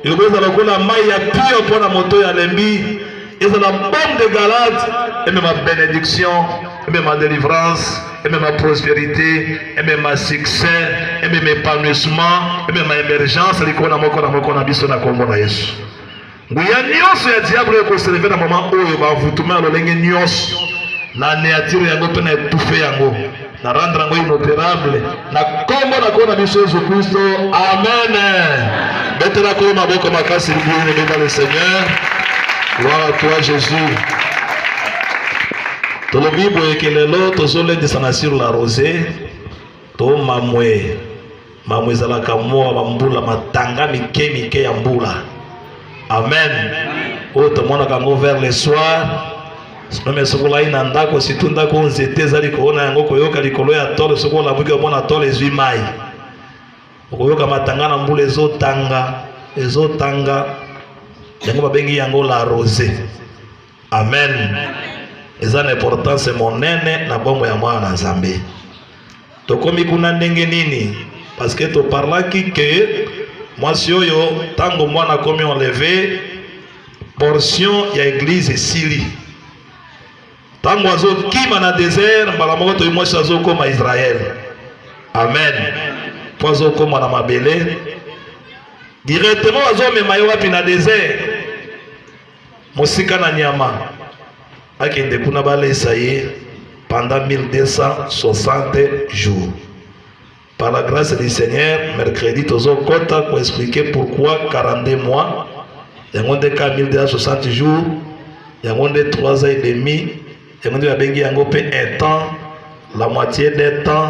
ekozala lokola mai ya pio mpo na moto ya lembi ezala bombe de galade emema benediction emema delivrance emema prospérité emema succès emema épanouissement emema émergence likolo moko na moko na biso na nkombo na yesu nguya nyonso ya diable ekoseleve na mama oyo bavutuma ya lolenge nyonso na neatire yango mpe na etufe yango na rendre yango inoperable na kombo na kona biso yesu kristo amen betela kolo maboko makasi libiene beba le seigneur gloire à toi jésus tolobi boyeke lelo tozolendisana sur la rose tomamwe Mamu ezalaka mwa bambula matanga mike mike ya mbula. Amen. Oyo tomonaka yango vers le soir nome esokolai na ndako situ ndako nzete ezali koona yango koyoka likolo ya tole soki olamuki omona tole ezwi mai okoyoka matanga na mbula ezotanga ezotanga yango babengi yango la rose Amen. Eza na importance monene na bomo ya mwana na Nzambe. Tokomi kuna ndenge nini? Parce que to parlaki que mwasi oyo tango mwana komi enleve portion ya eglise esili ntango azokima na desert mbala moko toyi mwasi azokoma israel amen mpo azokoma na mabele directement azomema ye wapi na desert mosika na nyama akende kuna balesa ye pendant 1260 jours par la grâce du seigneur mercredi tozokɔta koexplike pourquoi 42 mois yango nde ka 1260 jours yango nde 3 ans et demi yango nde babengi yango mpe un temps la moitié d'un temps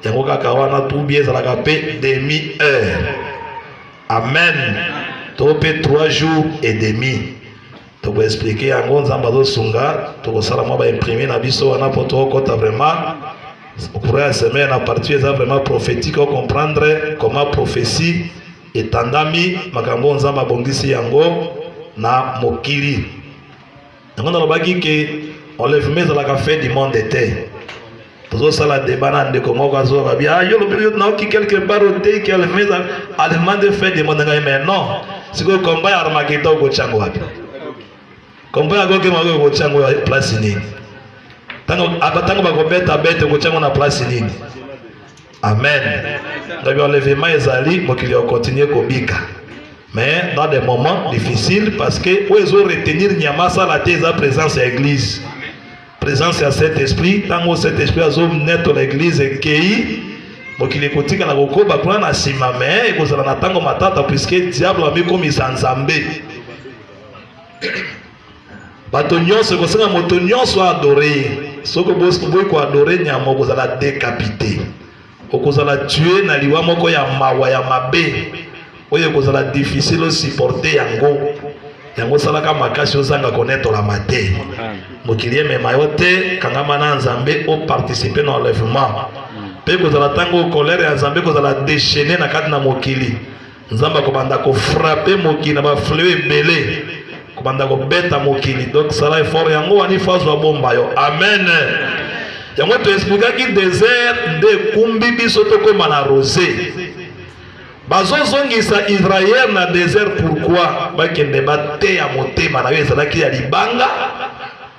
yango kaka wana tubi ezalaka mpe demi heure Amen. To pe 3 jours et demi. Toko expliquer yango Nzambe azosunga, tokosala mwa ba imprimer na biso wana po tokota vraiment okura ya semaine na partie eza vraiment prophétique o comprendre comment prophétie etandami makambo Nzambe abongisi yango na mokili. yango nalobaki ke enlèvement ezalaka fin du monde te tozosala deba na ndeko moko azoba bi ah, yo lobi yo naoki quelque part ote ke enlèvement enlèvement de fin du monde ngai mais non sikoyo combat ya armagedon okotyango wapi combat ya goge mago okotyango ya place nini ntango bakobeta bete okotyango na place nini Amen. Donc enlèvement ezali mokili au continuer kobika. Mais dans des moments difficiles parce que où ils ont retenir nyama sala te eza présence ya église. Présence ya Saint-Esprit, tango Saint-Esprit azo net l'église ekei mokili ekotika na kokoba kuna na nsima me ekozala na ntango matata puiske diable amikomisa nzambe Bato nyonso ekosenga moto nyonso adore ye. Soki oboyi koadore nyama, okozala dekapite, okozala tue na liwa moko ya mawa ya mabe oyo ekozala difficile osiporte yango. Yango osalaka makasi ozanga konetolama te. Mokili emema yo te, kangama na Nzambe, oparticipe na enlèvement mpe kozala ntango kolere ya Nzambe kozala dechene na kati na mokili. Nzambe akobanda ko frapper mokili na ba fleu ebele kobanda kobeta mokili donc sala effort yango wani fazo abomba yo amen yango toexplikaki desert nde ekumbi biso tokóma na rose bazozongisa israel na desert pourkui bakende bateya motema na yo ezalaki ya libanga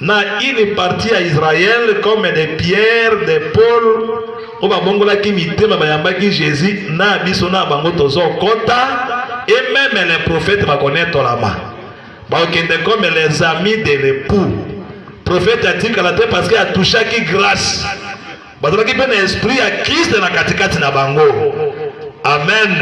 na une partie ya Israël comme de Pierre de Paul oyo babongolaki mitema bayambaki Jésus na biso na bango tozokota et même les prophètes bakonetolama bakokende comme les amis de l'époux prophète atikala te parce que atouchaki grâce Bazalaki mpe na esprit ya Kristo na katikati na bango. Amen.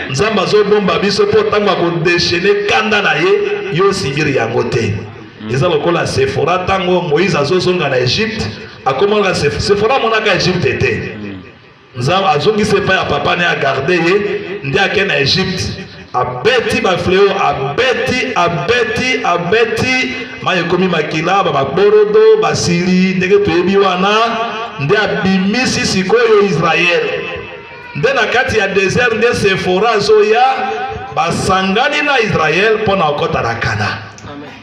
Nzambe azobomba biso mpo ntango akodeshene kanda na ye, yo osibiri yango te. Mm. Eza lokola Sefora ntango Moïse azozonga na Egypte, akomaka Sefora amonaka Egypte te. Mm. Nzambe azongisi epai ya papa ne agarde ye nde ake na Egypte. abeti ba fleo abeti abeti abeti mai ekomi makila bababorodo basili ndenge toyebi wana nde abimisi sikoyo israele nde na kati ya desert nde sefora azoya basangani na israele mpo na kokota na kana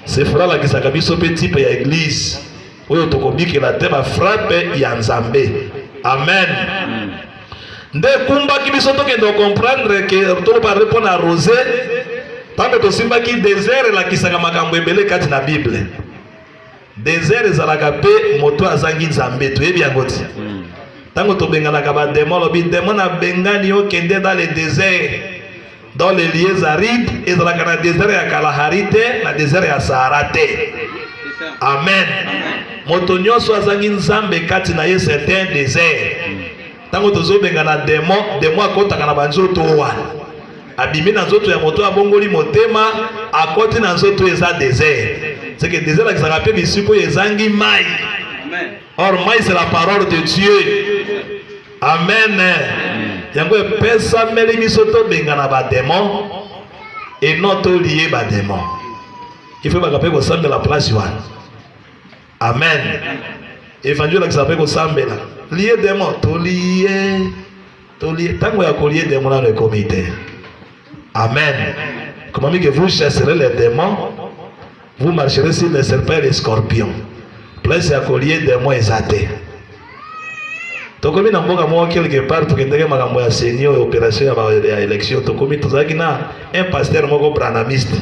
sefora alakisaka biso mpe tipe ya eglize oyo tokobikela te ba frappe ya nzambe amen nde ekumbaki biso tokende kocomprendre ke tolobare mpo na rose ntango tosimbaki desert elakisaka makambo ebele kati na bible desert ezalaka mpe moto azangi nzambe toyebi yango ti ntango tobenganaka bademo alobi demo nabengani okende dans le desert Dans les lieux arides, ezalaka na desert ya Kalahari te, na desert ya Sahara te. Amen. Moto nyonso azangi Nzambe kati na ye c'est un désert. Tango tozobenga na demon, demon akotaka na banzoto wana. Abimi na nzoto ya moto abongoli motema, akoti na nzoto eza désert. C'est que désert akisaka pe bisiko ezangi mai. Or mai c'est la parole de Dieu. Amen. Yango epesameli biso tobengana bademo et non tolie bademo. ifebaka mpe kosambela place wana amen evangile olakisa mpe kosambela lie demo tolie tolie ntango ya kolie demo nano ekomi te Amen. Comment que vous chasserez les démons, vous marcherez sur les serpents et les scorpions. Place ya kolie démon eza te. Tokomi na mboka moko quelque part tokendeke makambo ya seni oyo operation ya, ya election tokomi tozalaki na un pasteur moko branamiste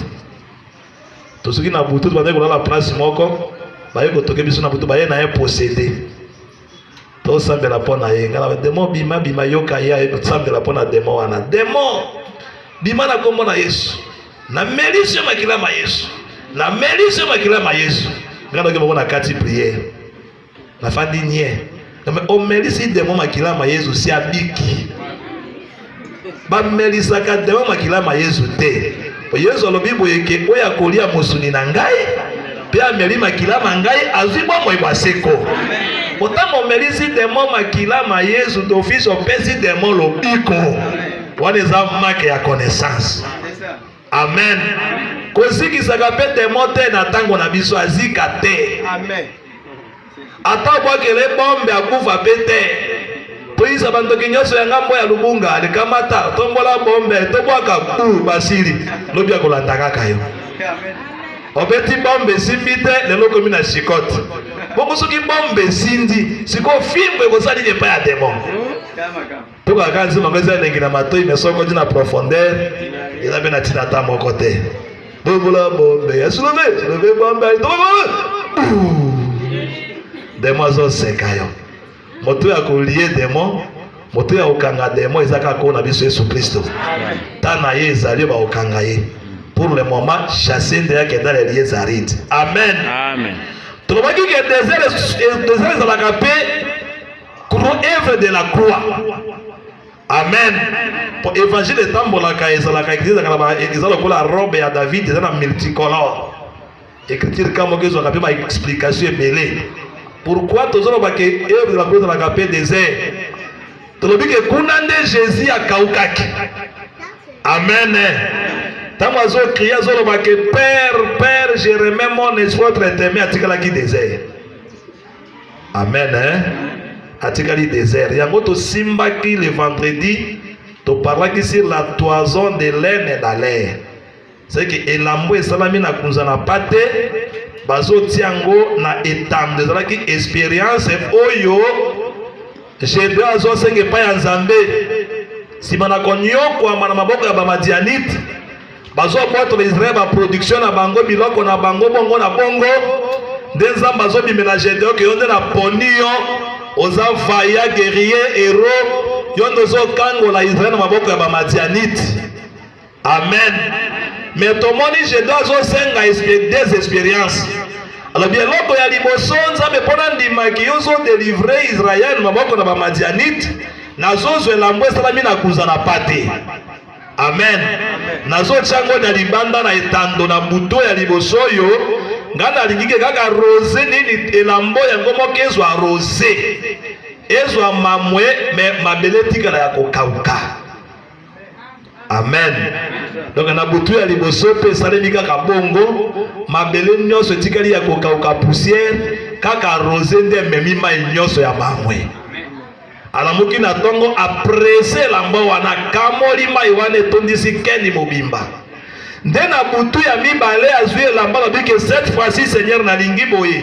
tosuki na butu tobandaki kolala place moko baye kotoke biso na butu baye na ye posede tosambela mpo na ye ngana demo bima bima yoka ye aye tosambela mpo na demo wana demo bima na nkombo na yesu na melisi yo makila ma yesu na melisi yo makila ma yesu nga noki moko na kati priere nafandi nie omelisi demo makila ma yesu si abiki bamelisaka dema makila ma yezu te po yezu alobi boye ke oyo akolia mosuni na ngai mpe ameli makila ma ngai azwi bomoi bwa seko ntango omelisi demo makila ma yezu d'office opesi demo lobiko wana eza make ya connaissance amen kozikisaka mpe demo te na ntango na biso azika te Ata abwakela ye bombe akufa pe te. Toyisa bandoki nyonso ya ngambo ya lubunga likamata tombola bombe tobwaka u basili lobi akolanda kaka yo obeti bombe esimbi te lelo okomi na chikote bongo soki bombe esindi sikoyo fimbo ekosali epai ya demon Toka kaka nzima meza elengi na matoi mais soki oti na profondeur eza mpe na ntina ata moko te. Bobola bombe ya silove silove bombe demo azoseka yo moto ya kolie demo moto ya kokanga demo eza kaka koo na biso yesu kristo ta na ye ezali yo bakokanga ye pour le moment chasse nde yakenda na elie zarite amen, amen. tolobaki ke desert ezalaka mpe œuvre de la croix amen mpo évangile etambolaka ezalaka eza lokola robe ya david eza na multicolore écriture ka moko ezwaka mpe baexplication ebele pourquoi tozoloba ke œuvre de la croix ezalaka mpe désert tolobi ke kuna nde jésus akaukaki amen ntango azokrie azoloba ke père père je remets mon espoir traitement atikalaki désert Amen hein? Atikali desert. Yango tosimbaki le vendredi toparlaki sur la toison de laine na laine. C'est que elambo esalami na kunza na pate bazotia yango na etambe ezalaki experience oyo Gedeon azwasenga epai ya Nzambe nsima na konyokwama na maboko ya bamadianite Bazwa bwato na Israel ba production na bango biloko na bango bongo na bongo nde Nzambe azobimela Gedeon ke yo nde na poni yo oza vaya guerrier hero yo nde ozokangola Israel na maboko ya bamadianite amen me tomoni Gedeon azosenga des experiences alobi eloko ya liboso Nzambe mpo nandimaki yo ozodelivre Israel maboko na bamadianite nazozwa elambo esalami na kuza na pate Amen. Nazotya yango na libanda na etando na buto ya liboso oyo ngai nalingi ke kaka rose nini elambo yango moko ezwa rose ezwa mamwe me mabele etikala ya kokauka amen donc na butu ya liboso mpe esalemi kaka bongo mabele nyonso etikali ya kokauka poussière kaka rose nde ememi mai nyonso ya mamwe Alamuki na tongo aprese elambo wana, akamoli mai wana etondisi keni mobimba. Nde na butu ya mibale azwi elamba alobi ke cette fois-ci Seigneur nalingi boye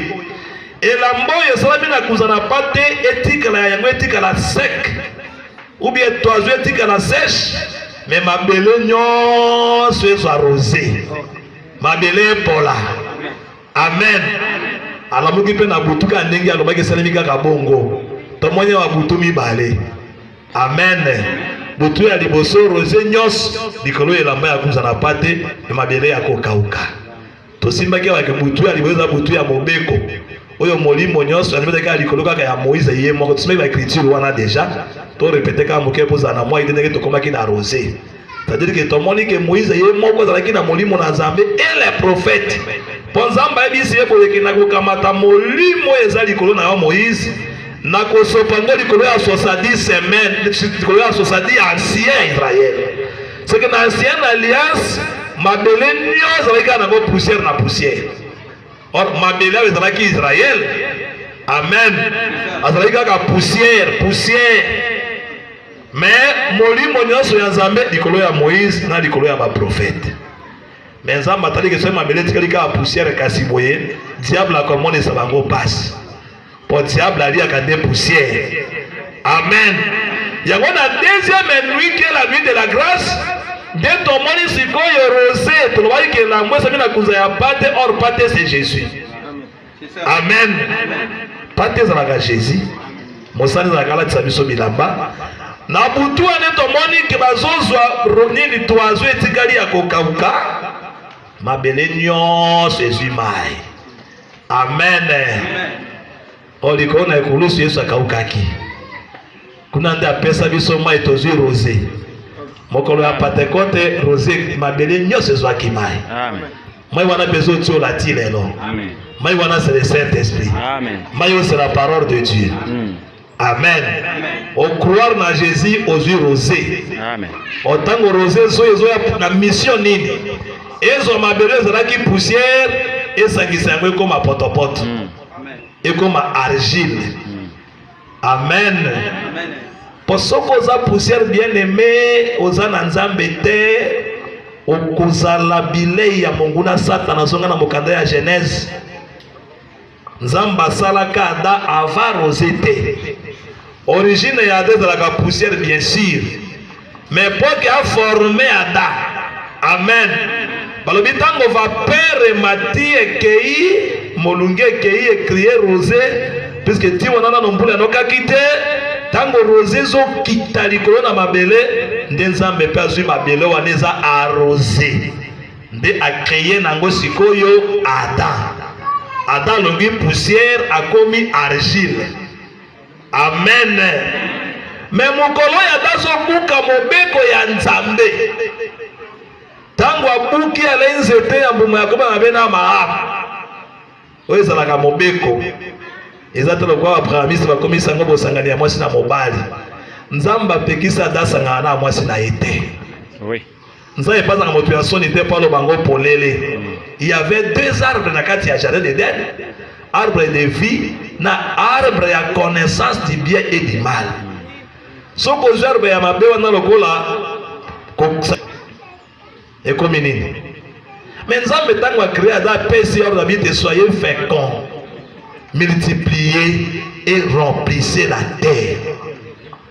elamba oyo esalami na kuza na pate etikala yango etikala sec ou bien toizo etikala sèche me mabele nyonso ezwa rose mabele epola Amen. Alamuki mpe na butu kaka ndenge alobaki, esalemi kaka bongo. Tomoni awa butu mibale. Amen. Butu ya liboso rose nyonso likolo ya elamba ya kuza na pate ya mabele ya kokauka. Tosimbaki awa butu ya liboso eza butu ya mobeko oyo molimo nyonso alobetaki kaka likolo kaka ya moïse ye moko tosimaki baekriture wana deja torepete kaka moke kozala na moi te ndenge tokomaki na rose C'est-à-dire que tomoni que Moïse ye moko azalaki na molimo na Nzambe et les prophètes. Mpo Nzambe ayebisi ye boye ke nakokamata molimo eza likolo na yo Moïse, nakosopa ngo likolo ya 70 semaine, likolo ya 70 ancien Israël. C'est que na ancien alliance mabele nio ezalaki kaka nango poussière na poussière. Or mabele ayo ezalaki Israël. Amen. Azalaki kaka poussière, poussière. Mais molimo nyonso ya Nzambe likolo ya Moïse na likolo ya ba prophètes. Mais Nzambe atali ke soki mabele etikali kaka poussière kasi boye diable akomonisa bango pasi. Po diable aliaka nde poussière. Amen. Yango na deuxième nuit qui est la nuit de la grâce nde tomoni sikoyo rose tolobaki ke elambo esami na kunza ya pate or pate c'est Jésus. Amen. Pate ezalaka Jésus. Mosali ezalaka alatisa biso bilamba. Na butu wana tomoni ke bazozwa nini toazo etikali ya kokauka. Mabele nyonso ezwi mai. Amen. O likolo na ekulusu Yesu akaukaki. Kuna nde apesa biso mai tozwi rose. Mokolo ya Pentekote rose mabele nyonso ezwaki mai. Amen. Mai wana mpe ezotiola ti lelo. Mai wana c'est le Saint-Esprit. Mai oyo c'est la parole de Dieu. Mm. Amen. Ocroire na Jésus ozwi rose. Otango rose ezo ezoya na mission nini? Ezwa mabele ezalaki poussière esangisa yango ekoma potopoto. Mm. Ekoma argile. Amen. Amen. Po soki oza poussière bien aimé, oza na Nzambe te, okozala bilei ya monguna Satana. Zonga na mokanda ya Genèse. Nzambe asalaka Ada ava rose te. Origine ya Ada ezalaka poussière bien sûr. Mais mpo ke aforme ada. Amen. Balobi ntango vapeur emati ekei, molunge ekei ekrie rose, puisque ti wana nano mbula enokaki te. Ntango rose ezokita likolo na mabele, nde Nzambe mpe azwi mabele wana eza arose, nde akreye na yango sikoyo Adam. Adam alongi poussière, akomi argile. Amen. Me mokolo oyo ata azobuka mobeko ya Nzambe, ntango abuki alei nzete ya mbuma ya koba mabe na maama, oyo ezalaka mobeko, eza te lokola babrahamiste bakomisi yango bosangani ya mwasi na mobali. Nzambe apekisi ata asangana na mwasi na ye te. Oui. nzambe mpe azalaka moto ya nsoni te mpo aloba yango polele il y avait deux arbres na kati ya jardin d'eden arbre de vie na arbre ya connaissance du bien et du mal soki ozwi arbre ya mabe wana lokola ekomi nini me nzambe ntango acree aza apesi ordre abi te soyez fécond multiplier et remplissez la terre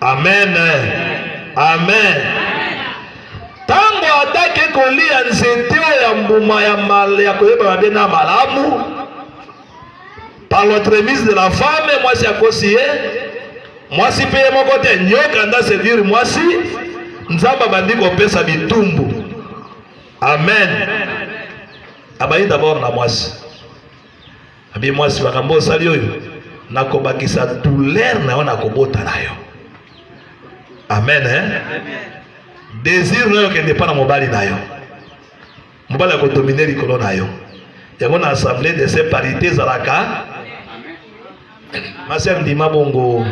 Amen. Amen. Tango atake kolia nzete ya mbuma ya mal ya koyeba mabe na malamu par l'entremise de la femme, mwasi akosi ye, mwasi mpe ye moko te, nyoka nda sedire mwasi, Nzambe abandi kopesa bitumbu. Amen. Abayi d'abord na mwasi Abi mwasi makambo osali oyo nakobakisa douleur na yo nakobota na yo amen eh? desir na yo kende mpa na mobali na yo mobali akodomine likolo na yo yango na assemblée de se parité ezalaka masi andima bongo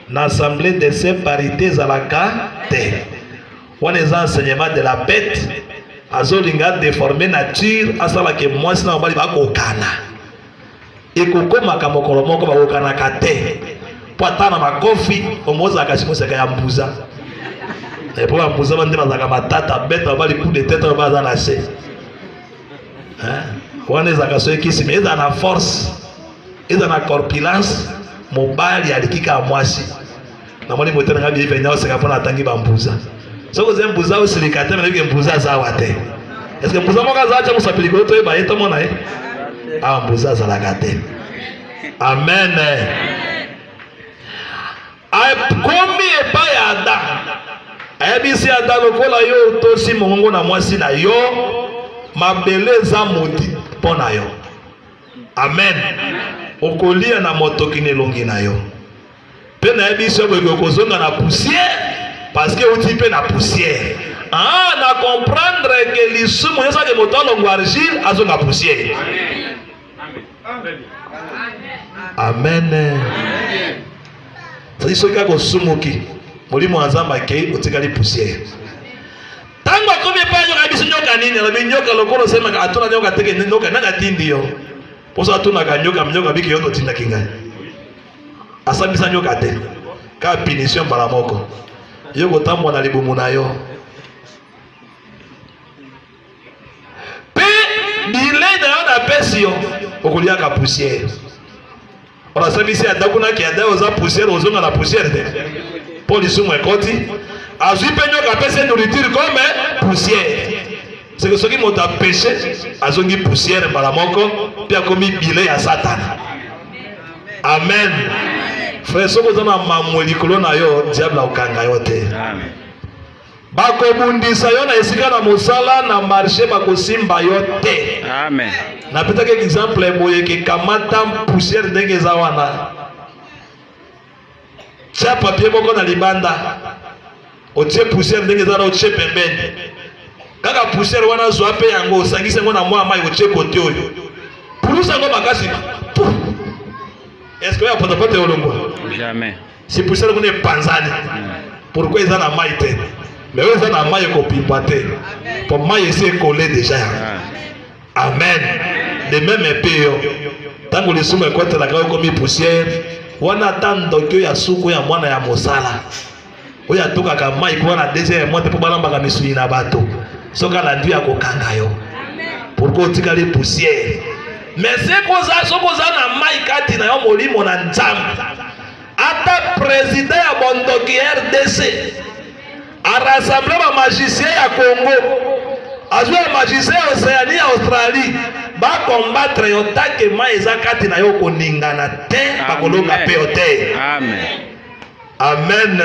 na assemblée de se parité ezalaka te wana eza enseignement de la bete azolinga deforme nature asala ke mwasi na mobali bakokana ekokomaka mokolo moko bakokanaka te mpo ata na makofi omozalaka simoseka ya mbuza epo ya mbuza bande bazalaka matata bete babali coup de tete oyo baza na se wana ezalaka soki kisima eza na force eza na corpulence mobali aliki kaka mwasi Na moni moto na ngai biye benya oseka pona atangi ba mbuza. Soko ozali mbuza osilika te nayebi ke mbuza aza awa te. Eske mbuza moko aza atya mosapeli koyo toyeba ye tomona ye? Awa mbuza azalaka te. Amen. Akomi epai ya Adam. Ayebisi Adam lokola yo otosi mongongo na mwasi na yo, mabele eza modi mpo na yo. Amen. Okolia na motoki na elongi na yo. Pe na yebi soki boye kozonga na poussière parce que outi pe na poussière. Ah, na comprendre que lisumu nyonso ake moto alongo argile azonga poussière. Amen. Amen. Sadi soki akosumuki molimo ya Nzambe akei otikali poussière. Tango akomi epai nyoka biso nyoka nini alobi nyoka lokola osemaka atuna nyoka teke nyoka nani atindi yo? Poso atunaka nyoka nyoka biki yo totindaki ngai. asambisa nyoka te ka punition mbala moko yo kotambwa na libumu na yo mpe bilei na yo napesi yo okoliaka pusiere onasambisi atako naki ada oza pusiere ozonga na pusiere te mpo lisumu ekoti azwi mpe nyoka apesi nourriture comme pusiere seke soki moto apeshe azongi pusiere mbala moko mpe akomi bile ya satana amen frere soki oza na mamwe likolo na yo diable akokanga yo te bakobundisa yo na esika na mosala na marshe bakosimba yo te amen napesaki exemple boye kekamata pusiere ndenge eza wana Tia papier moko na libanda, otie poussière ndenge eza na otie pembeni. Kaka poussière wana zwa mpe yango osangisi yango na mwa mai otie kote oyo, pulusa yango makasi. Est-ce que ya potopoto eolongwa? Jamais. Si poussière kuna epanzani, hmm. pourquoi eza na mai te? Mais oyo eza na mai ekopimba te, mpo mai esi ekole deja yango. Ah. Amen. De meme mpe yo, ntango lisumu ekotelaka yo okomi pusiere, wana ata ndoki oyo ya suku ya mwana ya mosala oyo atokaka mai mpo wana deuxième moite mpo balambaka misuni na bato soki alandi ya kokanga yo pourkoi otikali pusiere mais soki oza na mai kati na yo molimo na nzambe ata prezida ya bondoki rdc A rassembler ba magiciens ya Congo. Azwa ba magiciens ya Oceanie ya Australie. Ba combattre yo tanke mai eza kati na yo koningana te bakolonga pe yo te. Amen. Amen.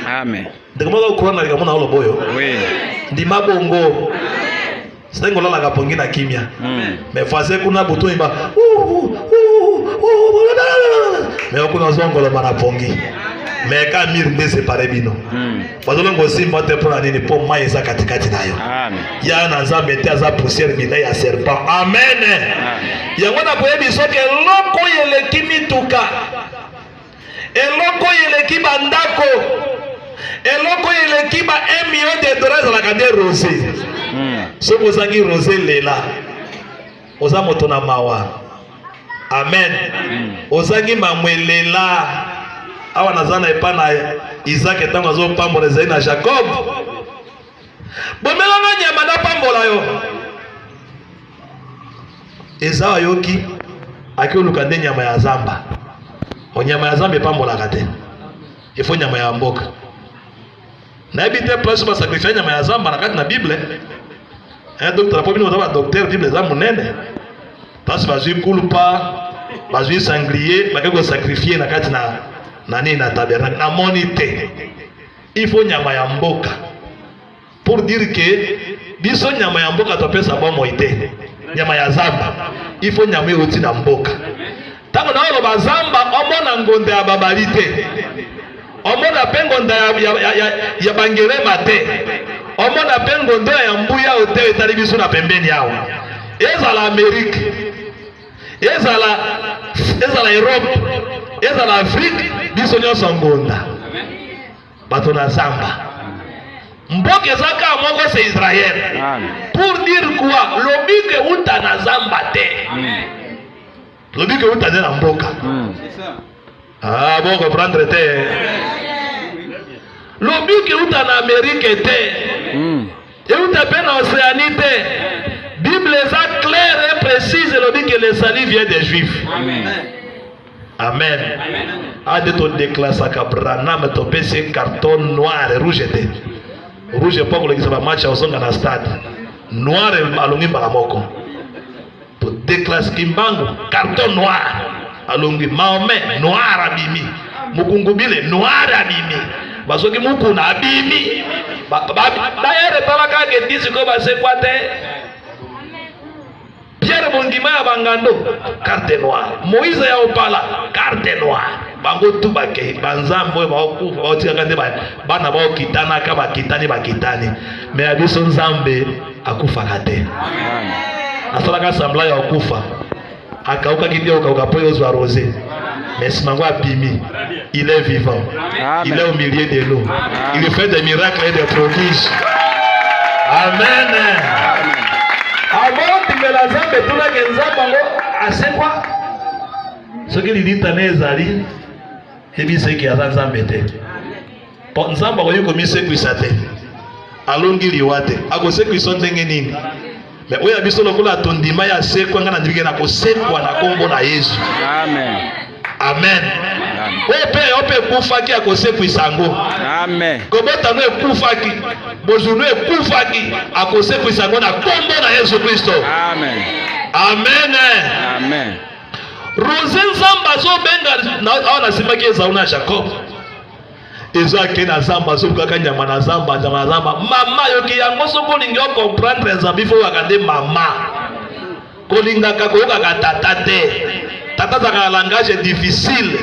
Amen. Ndeko moko okona likambo na olobo yo. Oui. Ndima bongo. Amen. Sengo lalaka pongi na kimia. Hmm. Mais voisin kuna butu imba. Mais okuna zongo la mara pongi. Mais ka mir nde séparé bino. Hmm. Bazolo ngo simba te pona nini po mai eza katikati na yo. Amen. Ya na Nzambe te aza poussière bina ya serpent. Amen. Yango na koyebi soki eloko yeleki mituka. Eloko oyo eleki ba ndako, eloko oyo eleki ba 1 million de dollars ezalaka nde rose. Hmm. Soki ozangi rose lela, oza moto na mawa. Amen. Hmm. Ozangi mamwe lela. Awa naza na epa na Isaac ntango azopambola ezali na Jacob. Bomelanga nyama napambola yo. eza ayoki akioluka nde nyama ya zamba onyama ya zamba epambolaka te ifo nyama ya mboka nayebi te place basakrifia nyama ya zamba na kati na bible eh, docteur po bino boza badocteur bible eza monene place bazwi kulpa bazwi sanglier bake kosakrifie na kati na na nini na tabernacle namoni te ifo nyama ya mboka pour dire que biso nyama ya mboka topesa bomoi te nyama ya zamba ifo nyama euti na mboka ntango na oloba zamba omona ngonda ya babali te omona mpe ngonda ya, ya, ya, ya, ya bangerema te omona mpe ngondo ya mbuya oyo te etali biso na pembeni awa ezala amerike ezala ezala europe ezala afrike biso nyonso ngonda bato na zamba mboka eza kaka moko se israel pour dire quoi lobiko euta na zamba te hmm. lobiko euta nde na mboka hmm. ah, bo comprendre te lobiko euta na amerike te hmm. euta mpe na océanie te bible eza claire et précise elobi que le salut vient des juifs Amen. amen ade todeklasaka branam topesi ye carton noir rouge te rouge mpo akolekisa bamatch ya kozonga na stade noir alongi mbala moko todeklase kimbangu carton noir alongi maome noir abimi mokungubile noir abimi basoki mukuna abimi dayere talaka ke disiko basekwa te Pierre Bondima ya Bangando, carte noire. Moïse ya Opala, carte noire. Bango tu bakei banzambe oyo baokufa baotikaka nde bana baokitanaka bakitani bakitani, me ya biso nzambe akufaka te. Asalaka sembla ya okufa, akaukaki nde okauka mpo ozwa rose. Mais ce mango abimi, il est vivant. Amen. Il est au milieu de nous. Amen. Il fait des miracles et des prodiges. Amen. Avant de la zambe tuna ke nzambe ngo asekwa. Soki lilita ne ezali, ebiseki aza nzambe te. mpo nzambe akoki komisekwisa te alongi liwa te akosekwisa ndenge nini me oyo ya biso lokola tondima ya sekwa ngai nandimike na kosekwa na nkombo na yesu amen amen oyo mpe yo mpe ekufaki akosekwisa yango kobota yango ekufaki bozwi no ekufaki akosekwisa yango na nkombo na yesu kristo amen amen rose nzambe azobenga awa nasimbaki ezauna jacob ezo ake na zamba azolukaka nyama na zamba nyama na zamba mama yoki yango soki olingi ocomprendre ya zambi fo oyaka nde mama kolingaka koyokaka tata te tata azalaka na langage difficile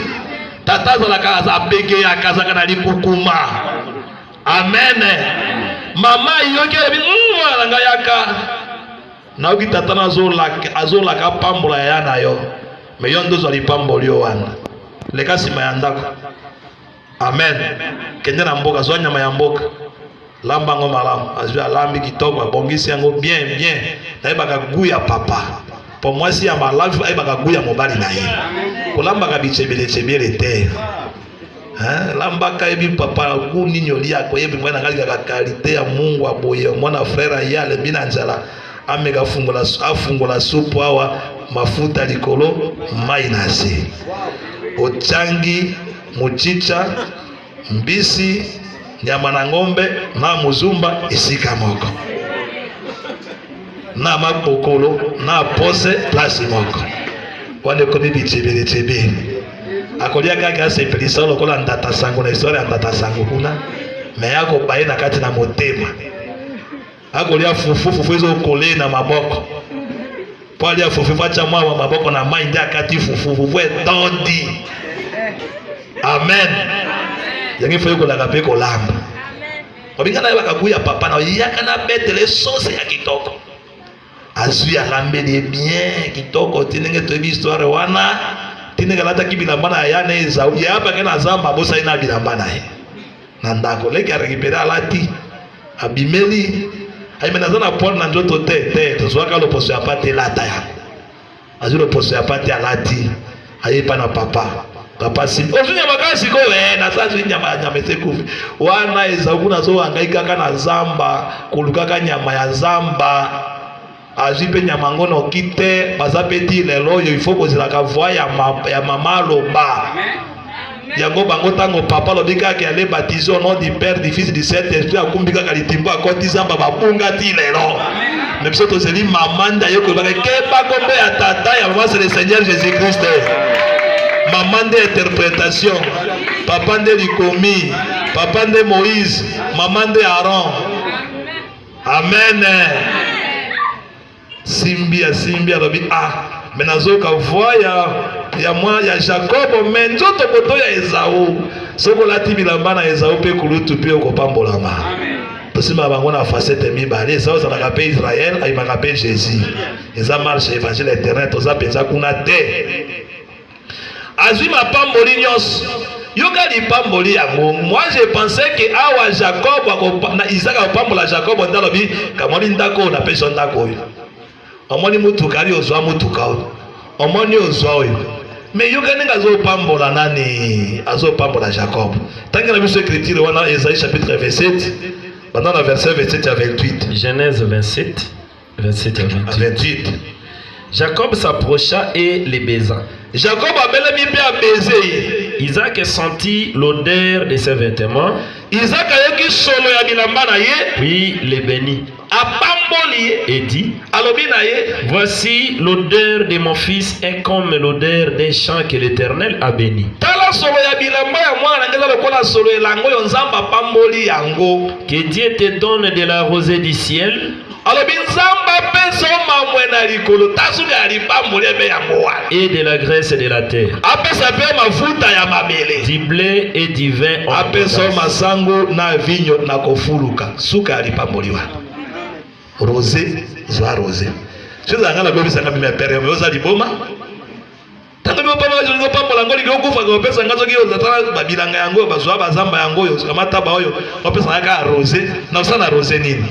tata azalaka abegeyaka azalaka na likukuma amen mama yoki alobi mwana na ngai yaka Nayoki tata na azolaka apambola yaya na yo, me yo nde ozwa lipamboli yo wana. Leka nsima ya ndako. Amen. Kende na mboka, zwa nyama ya mboka, lamba yango malamu. Azwi alambi kitoko, abongisi yango bien bien. Nayebaka gu ya papa po mwasi ya malamu ayebaka gu ya mobali na ye, kolambaka bichebelechebiele te. Hein, lambaka yebi papa ku nini olia ko yebi mwana ngai kaka kalite ya mungu aboye mwana frère aye alembi na njala ameka fungola afungola supu awa mafuta likolo mai na se ochangi muchicha mbisi nyama na ngombe na muzumba esika moko na mapokolo na pose place moko wana ekomi bitibili tibili akolia kaka asepelisa lokola ndata sango na historia ya ndata sango kuna me akobaye na kati na motema akolia fufu fufu ezokolee na maboko mpo alia fufu mpo atya mwa maboko na mai nde akati fufu fufu etondi amen yango ifo ekolaka mpe kolamba Babinga na ye bakabu ya papa na yaka na betele sose ya kitoko azwi alambeli ye bien kitoko ti ndenge toyebi histoire wana ti ndenge alataki bilamba na ya na ezau ye abake na zamba abosani na bilamba na ye na ndako leki arekipere alati abimeli ayemeli aza na poile na nzoto te te tozwaka loposo ya pate elata yango azwi loposo ya pate alati aye epa na papa papa si ozwi nyama kaka sikoyo e naza zwi nyama nyama esekufi wana ezau kuna azowangai kaka na zamba kolukaka nyama ya zamba azwi mpe nyama yango noki te baza mpe ti lelo oyo ifo kozelaka voi ya mama aloba yango bango ntango papa alobi kaka ale baptise au nom du père du fils du saint esprit akumbi kaka litimbo akoti zamba babunga ti lelo me biso tozeli mama nda ye koyebaka keba kombo ya tata ya mama se le seigneur jésus christ mama nde interpretation papa nde likomi papa nde moïse mama nde aaron amen, amen. Simbi ya simbi alobi ah me nazoyoka voi ya ya mwa ya Jakobo me nzoto koto ya Ezau. Soki olati bilamba na Ezau mpe kulutu mpe okopambolama. Tosima bango na facette mibale Ezau azalaka mpe Israel ayimaka mpe Jésus. Eza marche evangile internet oza mpenza kuna te. Azwi mapamboli nyonso. Yoka lipamboli yango. Moi je pensais que awa Jacob na Isaac akopambola Jacob nde alobi kamwani ndako oyo napesi yo ndako oyo. Omoni motuka ali ozwa motuka oyo. Omoni ozwa oyo. Mais yoka ndenge azopambola nani? Azopambola Jacob. Tangi na biso écriture wana Esaïe chapitre 27 banda na verset 27 ya 28. Genèse 27 27 à 28. 28. Jacob s'approcha et les baisa. Jacob abelemi mpe abeze ye. Isaac sentit l'odeur de ses vêtements, Isaac ayoki solo ya bilamba na ye, puis les bénit apamboli ye, et dit alobi na ye, Voici l'odeur de mon fils est comme l'odeur d'un champ que l'Éternel a béni. tala solo ya bilamba ya mwana na ngai eza lokola solo elanga oyo Nzambe apamboli yango. Que Dieu te donne de la rosée du ciel Alobi Nzambe apesa yo mamwe na likolo, tasubi ya lipamboli ebe yango wana. Et de la graisse et de la terre. Apesa mpe mafuta ya mabele. Du blé et du vin. Apesa yo masango na vinyo na kofuluka, suka ya lipamboli wana. Rose, zwa rose. Soki ezalaka na bebisaka mimi ya pere, oza liboma. Tata bino papa kasi olingi opambola yango olingi okufa ke opesa nga soki ozatala babilanga yango oyo bazwa bazamba yango oyo kamata ba oyo opesa nga kaka rose na osala na rose nini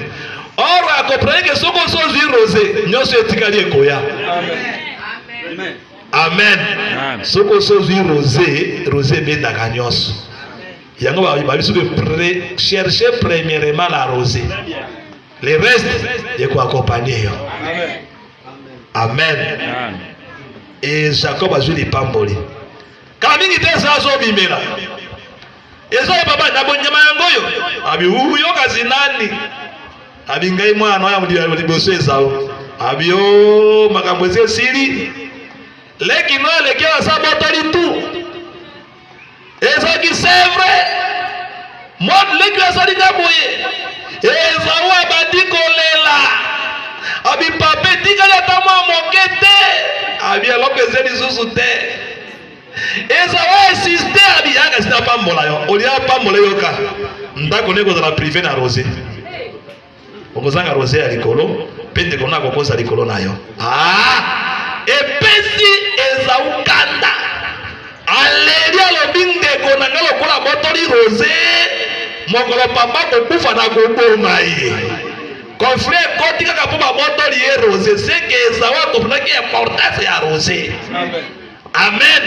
or akoprani ke soki osi ozwi rose nyonso etikali ekoya amen soki osi ozwi rose rose ebendaka nyonso yango babi soki cherche premièrement la rose le reste ekoakompanie yo amen. amen e jacob azwi lipamboli kala mingi te eza azobimela eza ye baba na bonyama yango oyo abi uyokazi nani abi ngai mwana oya liboso ezao abi o oh, makambo eza esili leki no aleki aza botoli tu ezalaki c'est vrai mode leki azali nga boye ezao abandi kolela abi papa etikali ata mwa moke te abi eloko eza lisusu te ezao insiste abi yaka sina apambola yo olia apambola eyoka ndako nde ekozala prive na rose okozanga rose ya likolo mpe ndeko na kokosa likolo na yo ah! epesi ezaukanda aleli alobi ndeko na ngai lokola botoli rose mokolo papa kokufa na koboma ye kofre ekoti kaka mpo babotoli ye rose seke ezau akoprendaki importance ya rose amen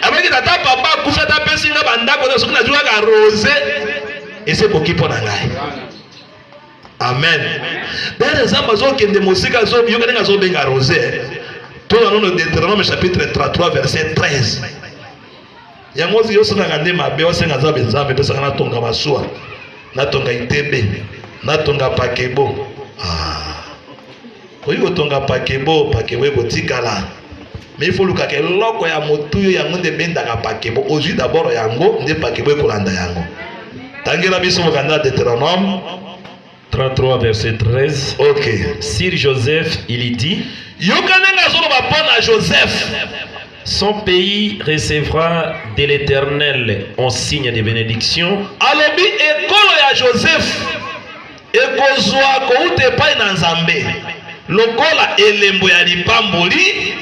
abaki tata papa akufi ata apesi nga bandako soki nazwi kaka rose esekoki mpo na ngai amen pere nzambe azokende mosika azoyoka ndenge azobenga rose tola nono deuteronome chapitre 33 verset 13 yango ozi yosalaka nde mabe osenga nzambe nzambe pesaka natonga masuwa natonga itebe natonga pakebo ah. Okoki kotonga pakebo, pakebo ekotikala. Mais il faut lukaka eloko ya motuyo yango nde bendaka pakebo. Ozwi d'abord yango nde pakebo ekolanda yango. Tangela biso mokanda Deuteronome 33 verset 13. OK. Sir Joseph, il dit. Yoka ndenge azoloba mpo na Joseph. Son pays recevra de l'Éternel en signe de bénédiction. Alobi ekolo ya Joseph Ekozwa kouta epai na Nzambe lokola elembo ya lipamboli.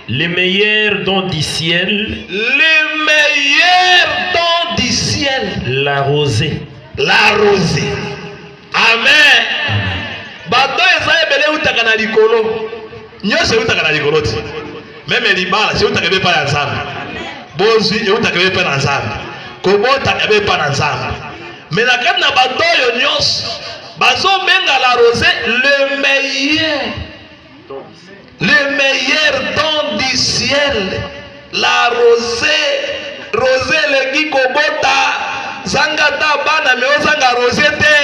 Le meilleur don du ciel. Le meilleur don du ciel. La rosée. La rosée. Amen. Bato eza ebele eutaka na likolo. Nyonso eutaka na likolo ti. Meme libala si eutaka ebepa ya Nzambe. Bozwi eutaka ebepa na Nzambe. Kobota ebepa na Nzambe. Mais na kati na bato oyo nyonso bazobenga la rose le meilleur le meilleur don du ciel la rose rose eleki kobota zanga ta bana me ozanga rose te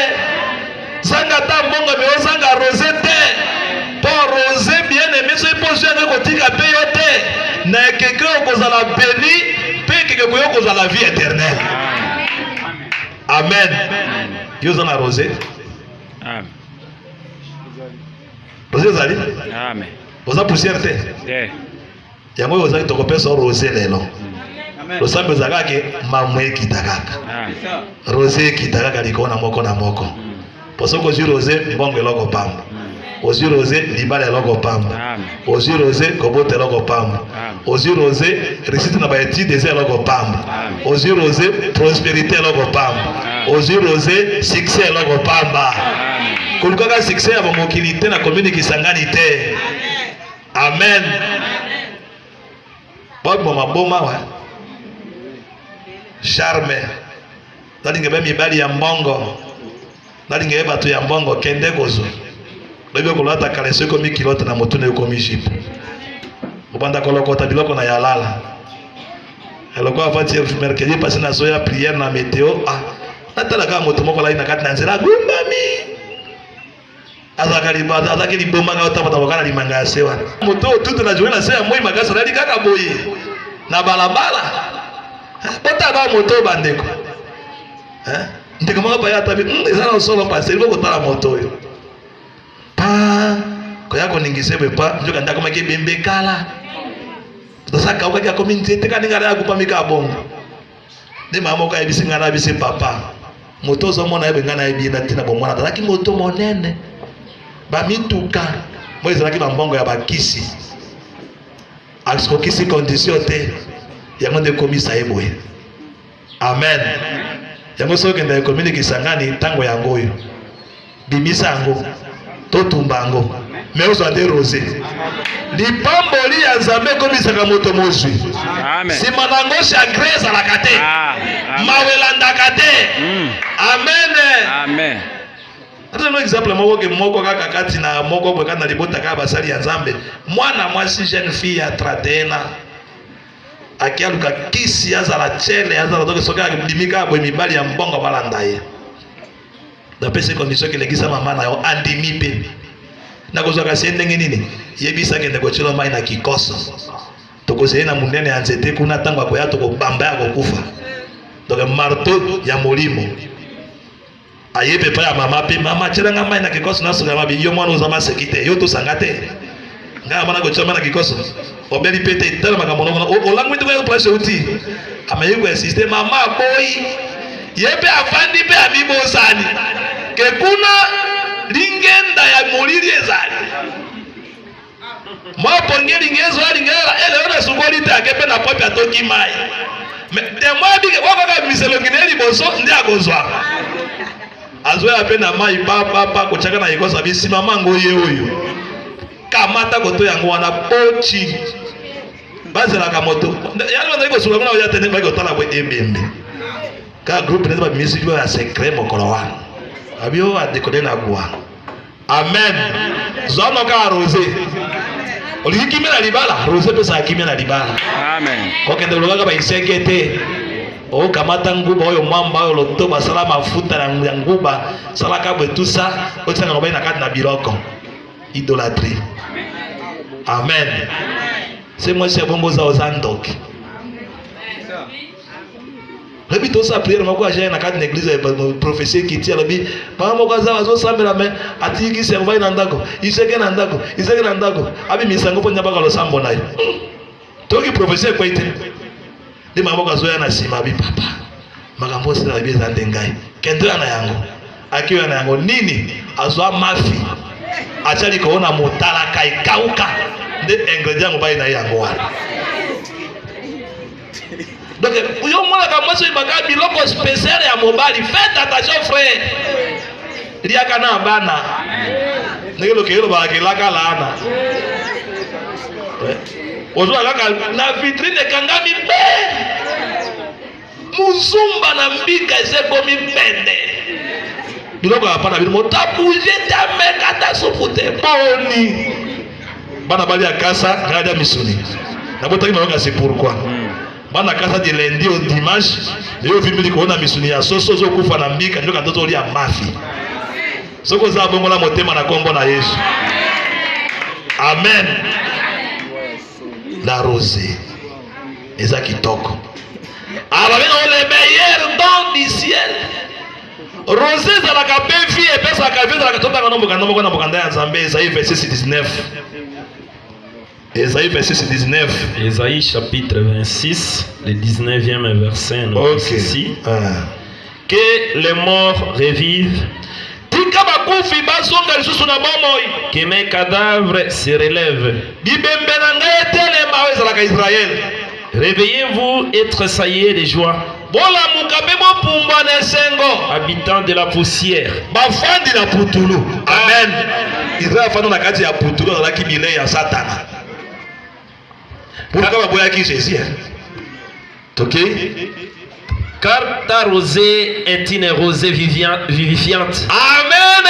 Zanga ata mbongo mais ozanga rose te po rose bien aime soki po ozwi yango ekotika pe yo te na ekeke okozala beni pe ekeke koyo kozala vie éternel amen yo oza na rose rose ezali oza poussière te yango oyo ozali tokopesa o rose lelo losambo eza kaka ke mamu ekita kaka ah. rose ekita kaka likolo na moko na moko mpo hmm. soki ozwi rose mbongo eloko pamba hmm. ozwi rose libala eloko pamba ozwi rose kobota eloko pamba ozwi rose risite na baetide eza eloko pamba ozwi rose prosperité eloko pamba ozwi rose succès eloko pamba kolukaka succès ya bamokili te na komini kisangani te Amen. Bob mama boma wa. Charme. Nalinga ba mibali ya mbongo. Nalinga bato ya mbongo kende kozwa. Lobi okolata kaleso ekomi kilote na motu na ekomi jipe. Obanda kolokota biloko na yalala. Eloko avati mercredi pasi na zoya prière na meteo. Ah, natalaka moto moko alai na kati na nzela agumbami. azalaka libanda azalaki liboma kaka otambotambo kaka na limanga ya se wana moto oyo tutu na journée na se ya moi makasi alali kaka boye na balabala botaba moto oyo bandeko ndeko moko baya atabi hmm, eza na solo mpasi elingi kotala moto oyo pa koya koningisa ebe pa nzoka nde akomaki ebembe kala tosakaukaki akomi nzete kaninga na ya kupamika bongo nde mama moko ayebisi ngai nayebi se papa moto ozomona yebe ngai nayebi ye na ntina bomwana azalaki moto monene bamituka moi ezalaki bambongo ya bakisi akokisi kondisio te yango nde ekomisa ye boye amen yango soki okenda ekomi na kisangani ntango yango oyo bimisa yango totumba yango me ozwa te rose lipamboli ya nzambe ekomisaka moto mozwi nsima na yango chagrin ezalaka te ah, mawa elandaka te hmm. amen atano exemple moko ke moko kaka kati na moko boye kati na libota kaka basali ya nzambe mwana mwasi jeune fille ya 31 ans ake aluka kisi azala chele azala toke soki abimi kaka boye mibali ya mbongo balanda ye napesi condition ke lekisa mama na yo andimi mpe nakozwaka se ndenge nini yebisa kende kotyela mai na kikoso tokozali na monene ya nzete kuna ntango akoya tokobamba ya kokufa donc marto ya molimo ayebi epai ya mama mpe mama tyelanga mai na kikoso nasola mabi yo mwana oza maseki te yo tosanga te nga amana ko chama na kikoso obeli pete tala makambo na mona olangwi tuko ya place uti amaye ko insister mama boy ye pe afandi pe amibosani ke kuna lingenda ya molili ezali mwa ponge lingezo alingela ele ona sukoli te ake pe na pope atoki mai me temwa bike okaka miselokine liboso nde akozwa azwela mpe na mai bababa kotyaka na ekosa bisimama yango ye oyo kamata koto yango wana boti bazelaka moto yango bazali kosuka kuna oya te nde baki kotala bwe ebembe ka groupe nde bamisi yo ya secret mokolo wana abio adekode na gwana Amen. Zwa no kaka rose. Olingi kimia na libala? Rose pesa kimia na libala. Amen. Kokende lobaka ba isenge te. okamata nguba oyo mwamba oyo loto basala mafuta ya nguba salaka bwe tusa otisaka lobai na kati na biloko idolatrie amen se mwasi ya bongo oza oza ndoki lobi tosala priere moko aja na kati na eglise ya prophesie ekiti alobi mama moko aza azosambela me atiki servai na ndako iseke na ndako iseke na ndako abimisa yango mpo nyabaka losambo na ye hmm. toyoki prophesie ekwei te nde mama moko azoya na nsima abi papa makambo osila abi eza nde ngai kende oya na yango akioya na yango nini azwa mafi atya likolo na motalaka ekauka nde ingredient mobali na ye yango wana donc yo omonaka mwasi oyebaka biloko special ya mobali fete attention frère liaka na bana ndenge lokeye lobaka kelaka laana ozwa kaka na vitrine ekangami mpe muzumba na mbika eza ekomi pende biloko ya pana bino motabuje te ameka ata supu te boni Bana bali ya kasa ngai da misuni. Nabotaki mayoka c'est pourquoi. Hmm. Bana kasa di lundi au dimanche, yo vimbi ko na misuni ya soso zo kufa na mbika ndoka ndoto lia mafi. Soko za bongola motema na kombo na Yesu. Amen. La rose eza kitoko. Ababenga ah, le meilleur don du ciel. Rose ezalaka pe vie epesaka vie ezalaka totanga no mokanda moko na mokanda ya Nzambe Esaïe verset 19 Esaïe verset 19 Esaïe chapitre 26 le 19e verset nous okay. ici ah. que les morts revivent tika bakufi bazonga lisusu na bomoi que mes cadavres se relèvent bibembe na ngai etelema oyo ezalaka Israël réveillez-vous et tressaillez de joie Bolamuka mpe bopumbwa na esengo. Habitants de la poussière. Bafandi na putulu. Amen. Israel afandi na kati ya putulu azalaki bilei ya Satana. Pourquoi baboyaki Jésus? Ok? Car ta rosée est une rosée vivifiante. Amen.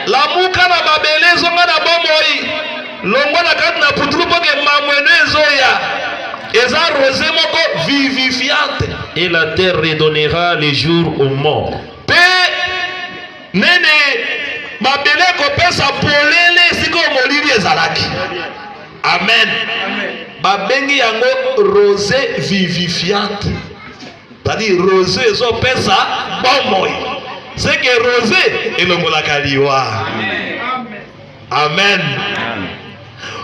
Lamuka na mabele ezonga na bomoi. Longola kati na putulu mpo ke mamwene ezoya eza rose moko vivifiante. Et la terre redonnera le jour aux morts. Mpe nene mabele ekopesa polele sikoyo molili ezalaki. Amen. Babengi yango rose vivifiante. Tadi rose ezopesa bomoi. Seke rose elongolaka liwa. Amen. Amen.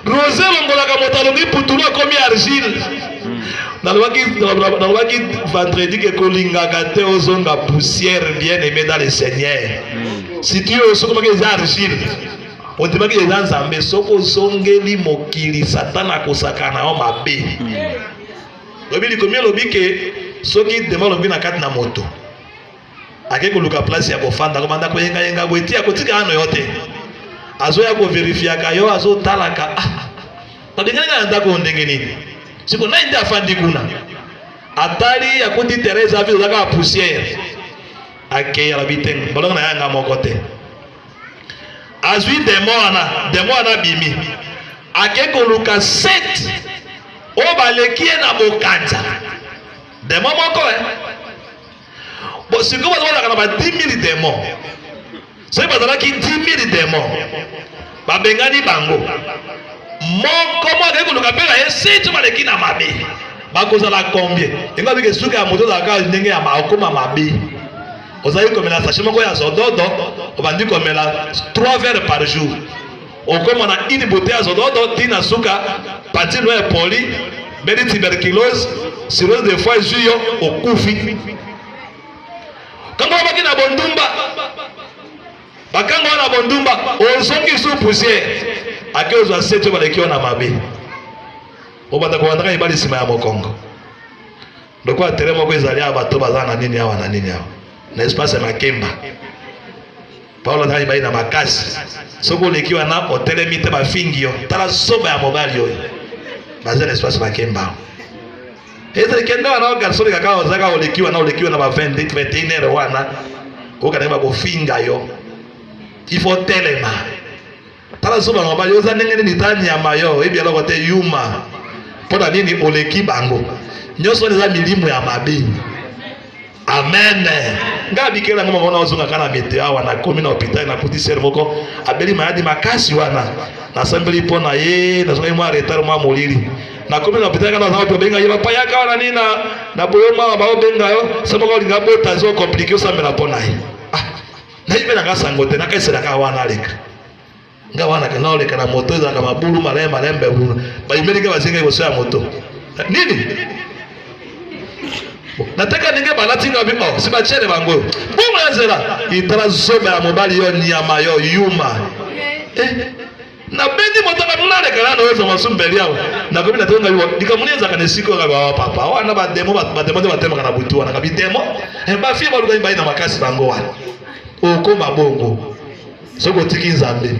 Rose longolaka moto alobi putulu akomi argile. Hmm. Nalobaki nalobaki vendredi ke kolingaka te ozonga poussière bien aimé dans le Seigneur. Hmm. Si tu osokomaki eza argile. Ondimaki eza Nzambe soko ozongeli mokili satana akosakana yo mabe. Hmm. Lobi likomi alobi ke soki dema alobi na kati na moto. ake koluka place ya kofanda kobanda koyengayenga boye ti akotika ano yo te azoya koverifiaka yo azotalaka ah, babengani nga na ndako oyo ndenge nini siko nai nde afandi kuna atali akuti terese avi oza kaka poussière akeyi alabi te balonga na yanga moko te azwi demo wana demo wana abimi ake koluka sete oyo baleki ye na bokanza demo moko eh? Bon, sikoyo bato bazalaka na ba 10000 demon. Soki bazalaki 10000 demon, babengani bango moko moko akei koluka mpe na ye seti baleki na mabe bakozala combien yango abika esuka ya moto ozalaka ndenge ya okoma mabe ozali komela sashe moko ya zododo obandi komela 3 verre par jour Okoma na une bouteille ya zododo ti na suka, partie noire ya poli, beni tuberculose, cirrhose de foie ezui yo, okufi. Kanga obaki na bondumba, bakanga wana bondumba, ozongi sous poussière, ake ozwa sete baleki yo na mabe, obanda kobandaka ebali nsima ya mokongo. lokola tere moko ezali awa bato baza na nini awa na nini awa na espace ya makemba paulo azalaki bai na makasi soki oleki wana otelemi te bafingi yo tala soba ya mobali oyo baza na espace makemba ezali kende wana ogarsoni kaka ozaka oleki wana oleki wana ba 20 21 heure wana okanaki bakofinga yo ifo telema Tala suma na bali oza ndenge nini ta nyama yo oyebi eloko te yuma mpo na nini oleki bango nyonso wana eza milimu ya mabe amen ngai abikela yango moko nazonga kaka na mete awa nakomi na hôpital nakuti sere moko abeli mayadi makasi wana nasambeli mpo na ye nazongaki mwa retard mwa molili nakomi na hôpital kaka naza bato babenga ye papa yaka wana nini na boyo mwana baobenga yo se moko olinga bota ezo komplike osambela mpo na ye nayebelaka sango te nakaeselaka wana aleka nga wana ke naoleka na moto ezalaka mabulu malai malembe bulu bayimelike bazinga liboso ya moto nini nateka ndenge balati nga bima si batiele bango oyo bongo ya nzela itala zoba ya mobali yo nyama yo yuma eh? Na beni moto na nuna de kana no zama sum beliaw na ko bina tonga yo dika muni nzaka ne siko ka ba papa wa na ba demo ba ba demo de ba tema kana butu wana ka bi demo e ba fi ba luka ba ina makasi bango wana o ko mabongo soko tiki nzambe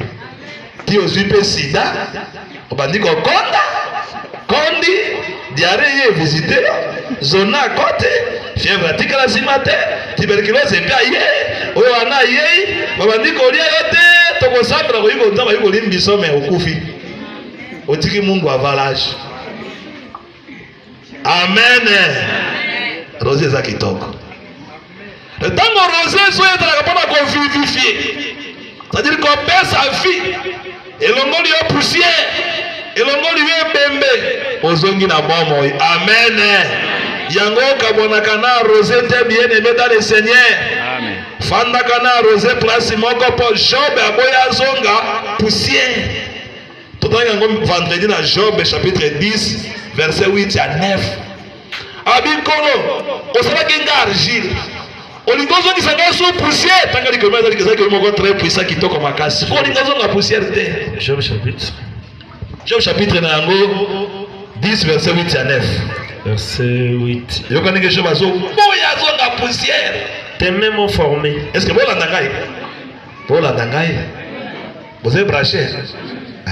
ti ozwi mpe sida obandi kokonda Kondi, diarrhee eye evisite yo, zona akoti, fièvre atikala sima te, tuberculose mpe aye, oyo wana ayei, babandi kolia yo te, tokosambela koyi konza bayi kolimbiso me okufi. Otiki mungu avalage. Amen. Rosie eza kitoko. Ntango rose ezo ezalaka mpo na kovivifie c'est-à-dire kopesa vie elongoli yo poussière elongoli yo ebembe ozongi na bomoi amen yango okabwanaka na rose te bien aime dans le seigneur fandaka na rose place moko mpo job aboya azonga poussière totanga yango vendredi na job chapitre 10 verset 8 ya 9 Abi nkolo, osalaki nga argile. Olingi ozongisa ngai sous poussière. Tanga likoma ezali ezali kelo moko très puissant kitoko makasi. Ko olingi ozonga poussière te. Job chapitre. Job chapitre na yango 10 verset 8 ya 9. Verset 8. Yoka ndenge Job azo boya azonga poussière. Tes mains m'ont formé. Est-ce que bolanda ngai? Bolanda ngai? Boze branché? Ah.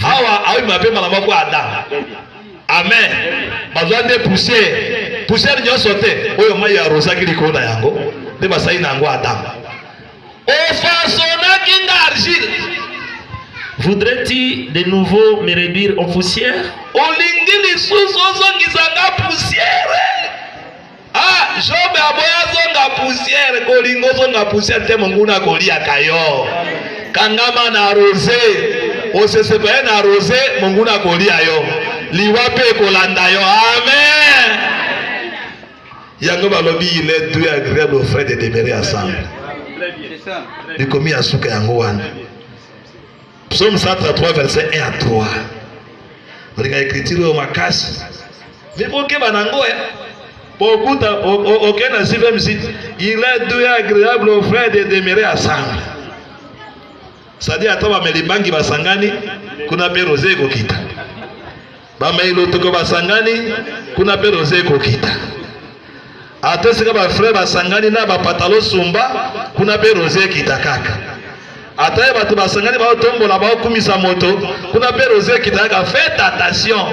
Hawa awi mabe mbala moko Adam. Amen. Bazwa nde poussière. Poussière nyonso te oyo mai ya rozaki likolo na yango nde basali na yango Adam. Ofasonaki nga argile. Voudrais-tu de nouveau me réduire en poussière? Olingi lisusu ozongisa nga poussière? Ah Job aboya zonga poussière kolinga ozonga poussière te monguna akoliaka yo kangama na rose osesepaye na rose monguna akolia yo liwa mpe ekolanda yo amen yango balobi il est doux agréable aux frères de demeurer ensemble likomi ya suka yango wana Psaume 133 verset 1 à 3. Olinga écriture oyo makasi. Mais bokeba nango eh. Bokuta aucun na CVM site. Il est doux et agréable aux frères de demeurer ensemble. C'est-à-dire ata bameli bangi basangani kuna mpe rose ekokita. bamei lotuko basangani kuna mpe roza ekokita ata esika bafrere basangani na bapatalo sumba kuna mpe roza ekita kaka ata ye bato basangani baotombola baokumisa moto kuna mpe roza ekita kaka fete attention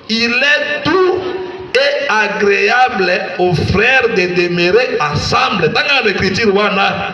il est tout et agréable aux frères de demeurer ensemble tanga na écriture wana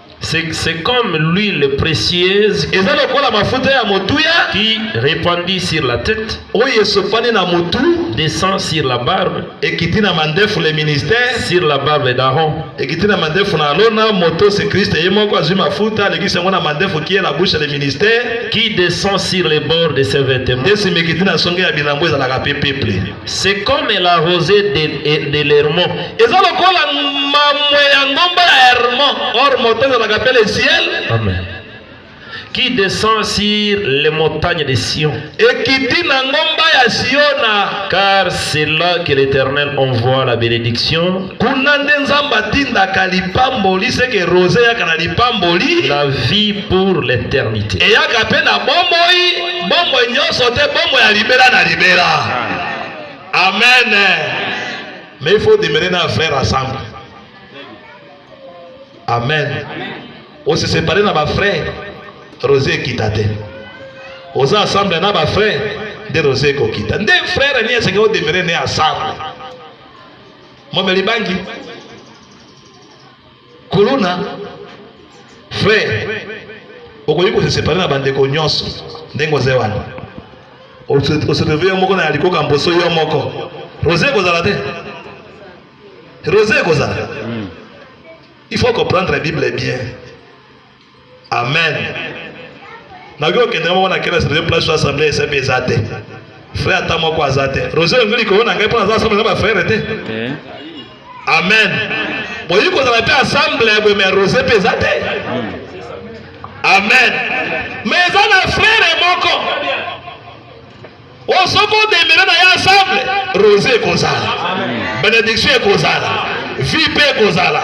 C'est comme l'huile précieuse qui répandit sur la tête, descend sur la barbe, et qui dit le ministère, sur la barbe d'Aaron, et qui dit na mandefu na Alona, moto c'est Christ, et moi quoi, ma fouta, le Christ, moi na mandefu qui est la bouche le ministère, qui descend sur les bords de ses vêtements, et si me qui dit na songe ya bilambo, et la peuple. C'est comme la rosée de, de, de l'Hermont. Eza lokola mamwe ya ngomba ya Hermont. Or moto ezalaka mpe le ciel. Amen. Qui descend sur les montagnes de Sion. Ekiti na ngomba ya Siona. Car c'est là que l'Éternel envoie la bénédiction. Kuna nde Nzambe atindaka lipamboli seke rose eyaka na lipamboli. La vie pour l'éternité. Eyaka mpe na bomoi. Bomoi nyonso te, bomoi ya libela na libela. Amen. Mais il faut demeurer na frère ensemble. Amen. On se séparer na ba frère, Rosé ekita te. Oza ensemble na ba frère, nde Rosé ekokita. Nde frère ni esengeli odemeurer ne ensemble. Momeli bangi. Kuluna frère okoki ko se séparer na bandeko nyonso ndenge oza wana oseteve yo moko na ya likoka mposo yo moko rose ekozala te rose ekozala hmm. il faut comprendre bible bien Amen. nayoki okendeka moko na kelasi naye place to assemble esembe eza te frère ata moko aza te roger olingi likolo na ngai mpo naza assemble na bafrere te eh. amen boyi kozala mpe assemble ya boye mai roger mpe eza te hmm. amen mais eza na frere moko Oh, soki odemele na ye ensemble rose ekozala benediction ekozala vie mpe ekozala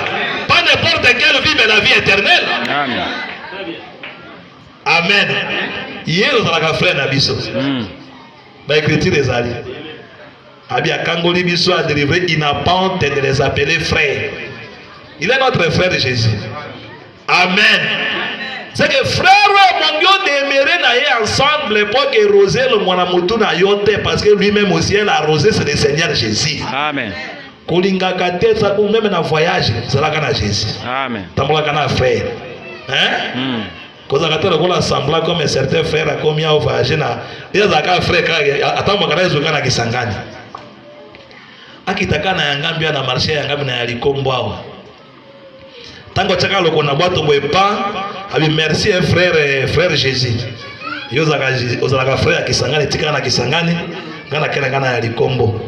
pas n'importe quelle vie mais la vie éternelle amen ye ozalaka frère na biso hmm. baekriture ezali Abi akangoli biso a délivrer il n'a pas honte de les appeler frères. Il est notre frère Jésus. Amen. C'est que frère mon Dieu demeurer na ye ensemble pour que rosé le mwana mutu na yo te parce que lui-même aussi elle a rosé c'est le Seigneur Jésus. Amen. kolingaka te sabu meme na voyage zalaka na jésus tambolaka na frère hein? mm. kozalaka te lokola assemblant comme certain frère akomi ao voyage na ye azalaka frère kaka atambwaka na ezweka na kisangani akitaka na yangambi ya na marché ya yangambi na ya likombo awa ntango atyaka loko na bwato boye pa abi merci eh, frère eh, frère jésus yo ozalaka frère ya kisangani etikaka na kisangani ngai nakenda ngai na ya likombo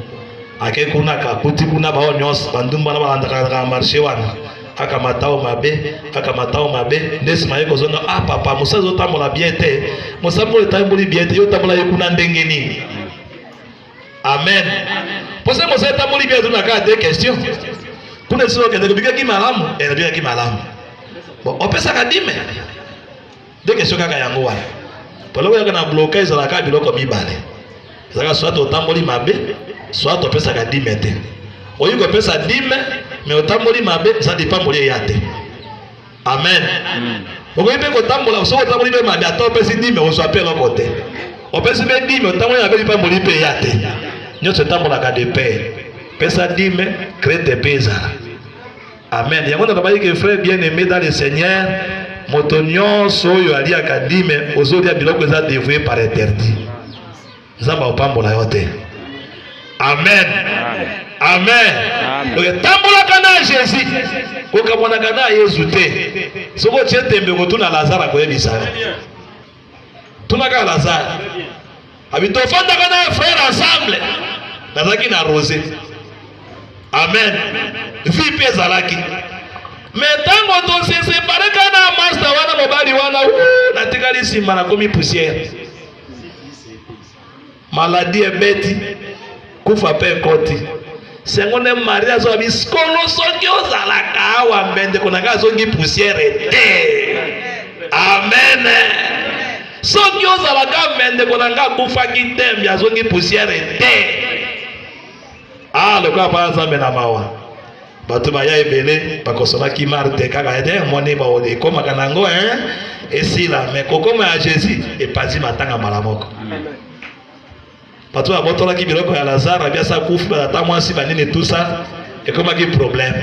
ake kuna kakuti kuna bao nyonso bandumba na balandaka na marché wana kaka matao mabe kaka matao mabe nde nsima ye kozonga ah papa mosala ezotambola bie te mosala oyo etamboli bie te yo otambola ye kuna ndenge nini amen mpo se mosala etamboli bie azonga kaka te question kuna esili okendeke bikaki malamu elabikaki eh, malamu opesaka dime Nde kestion kaka yango wana. Toloko yaka na bloka ezalaka biloko mibale. Ezalaka soit otamboli mabe, soit opesaka dime te. Oyi kopesa dime, me otamboli mabe, eza dipamboli eya te. Amen. Amen. Okoki mpe kotambola soki otamboli mpe mabe ata opesi dime ozwa mpe eloko te. Opesi mpe dime otamboli mabe lipamboli mpe eya te. Nyonso etambolaka de paix. Pesa dime, krete mpe ezala. Amen. Yango nalobaki ke frère bien aimé dans le Seigneur, moto nyonso oyo aliaka dime ozolia biloko eza devoye par interdit. Nzambe akopambola yo te. Amen. Amen. Donc etambolaka na Jésus, kokamonaka na Yesu te. Soki otie tembe kotuna Lazare akoyebisa yo. tunaka lazare abi tofandaka na frère ensemble nazalaki na rose amen vi mpe ezalaki me ntango tosesepareka na masta wana mobali wana natikali nsima nakomi poussière Maladie ebeti, kufa pe ekoti. Sengo nde Maria azoba biskolo soki ozalaka awa mbe ndeko na ngai azongi poussière te. Amen. Soki ozalaka mbe ndeko na ngai akufaki te mbe azongi poussière te. Ah, lokola pa Nzambe na mawa. Bato baya ebele bakosonaki Marte kaka ete moni baoyo ekomaka na yango hein esila me kokoma ya Jésus epanzi matanga mbala moko. Bato babotolaki biloko ya Lazare biasa kufi batata mwasi banini tusa ekomaki problème.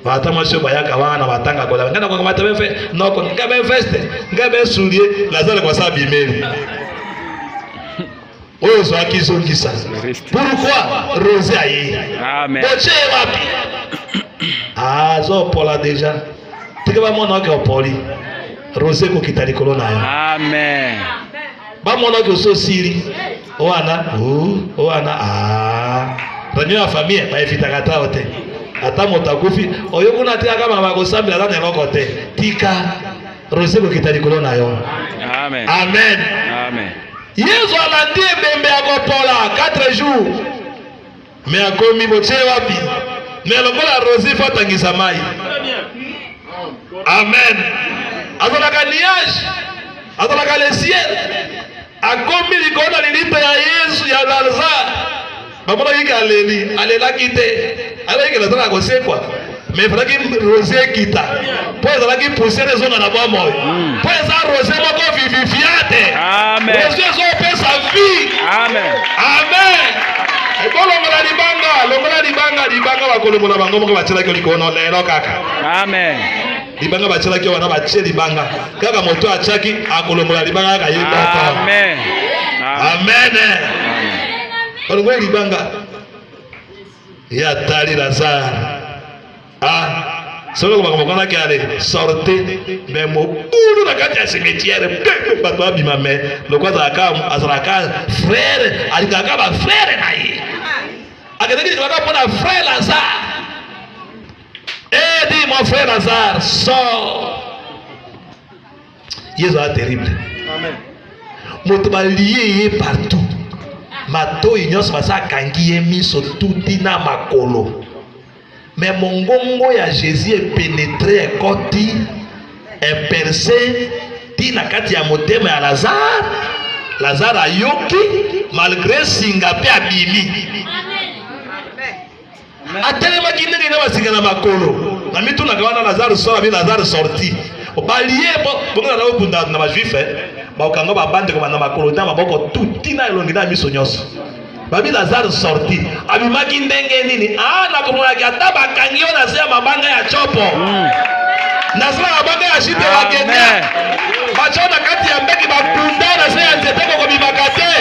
Batata mwasi oyo bayaka wana na matanga kolala ngai nakoka mata befe noko ngai befeste ngai besulie Lazare kwa sa bimeli oyo ozwaki zongisa pourkoi rose aye botie ye wapi azopola deja teke bamona oke opoli rose ekokita likolo na yo amen bamona oke osi osili wana wana reunion ya famille baevitaka ata o te ata moto akufi oyo kuna atikaka mama kosambela ata na eloko te tika Rose kokita likolo na yo. Amen. Amen. Amen. Yesu alandi ebembe ya kopola 4 jours. Me akomi botie wapi? Me lokola Rose fa tangisa mai. Amen. Azalaka nuage, azalaka le ciel. Akomi likolo na lilita ya Yesu ya Lazare. Bamonaki ke aleli, alelaki te. Alaki ke Lazare akosekwa. Mais efalaki rose ekita. Po ezalaki poussière ezonga na bwa moyo. Hmm. Po eza rose moko vivifiante. Amen. Rose ezopesa vie. Amen. Amen. Ekolongola libanga, longola libanga, libanga bakolongola bango moko batyelaki likolo lelo kaka. Amen. libanga batyelaki wana batye libanga kaka moto atyaki akolongola libanga kaka ye moko amen amen balongoli libanga ye atali lazare a ah, soki okobaka mokonaki ale sorte me mobulu na kati ya cimetiere mpe bato babima me loko azalaka azalaka frere alingaka bafrere na ye akendaki libanga mpo na frere lazare Eh, dit mon frère Lazare, sort. Yesu a terrible. Amen. Moto balie ye partout. Matoi nyonso basa akangi ye miso tuti na makolo. Mais mongongo ya Jésus epenetre ekoti eperse ti na kati ya motema ya Lazare. Lazare ayoki malgre singa mpe abimi. Amen. Atelemaki ndenge na basika na makolo. Na mitunaka wana Lazare sora bi Lazare sorti. Balie bo bongela na okunda na bajuif eh. Bakanga ba bande koma na makolo na maboko tout tina elongi na miso nyonso. Babi Lazare sorti. Abimaki ndenge nini? Ah na komonaki ata bakangi yo na se ya mabanga ya chopo. Mm. Na se ya mabanga ya shite ya Kenya. Bacho na kati ya mbeki bakunda na se ya nzete kokobimaka te.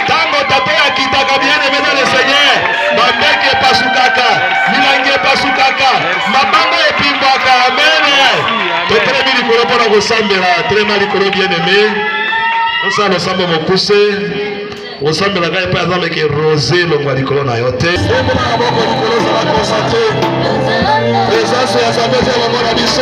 Tango tata ya kitaka bien aimé dans le Seigneur. Mabeke epasukaka, milangi epasukaka, mabanga epimbwaka. Amene. Totelemi likolo mpo na kosambela. Telema likolo bien aime. Osala losambo mokuse. Osambela kaka epai aza meke rose longwa likolo na yo te. Presence ya Nzambe ezala na biso.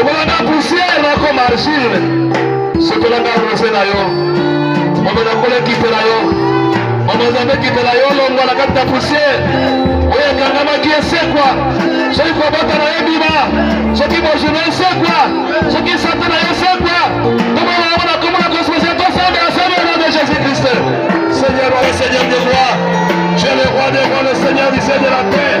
ekolanda poussière nakoma argile sokolanda rose na yo mama nakola ekipe na yo mama zambe ekipe na yo longwa na kati ya poussière oyo ekangamaki esekwa soki kobota na yo bima soki bojuna esekwa soki sante na yo esekwa tomona yango na komona kosmose tosande asali au nom de jésus christ seigneur wa le seigneur de roi tu es le roi des rois le seigneur du ciel de la terre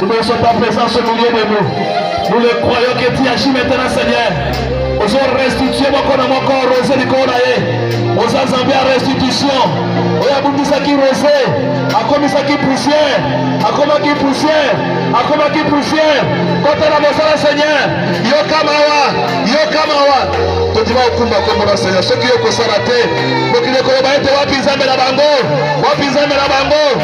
Nous dansons ta présence au milieu de nous. Nous le croyons que tu agis maintenant, Seigneur. Ozo restituer moko na moko rose likolo na ye. Oza Nzambe ya restitution. Oyo abundisaki rose, akomisaki poussière, akomaki poussière, akomaki poussière. Kota na mosala Seigneur. Yoka mawa, yoka mawa. Tondima okumba kombo na Seigneur. Soki yo kosala te, mokili ekoloba ete wapi Nzambe na bango? Wapi Nzambe na bango?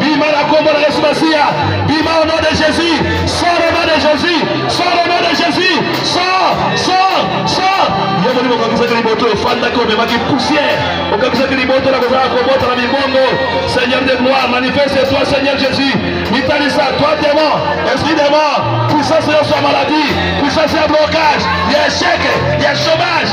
Bima na kombo na Yesu Masiya. Bima au nom de Jésus. Sors au nom de Jésus. Sors au nom de Jésus. Sors, sors, sors. Yo molimo okakisaki liboto efandaki omemaki poussière. Okakisaki liboto na kozala kobota na mibongo. Seigneur de gloire, manifeste-toi Seigneur Jésus. Mitalisa toi démon, esprit de mort, puissance ya maladie, puissance ya blocage, ya échec, ya chômage.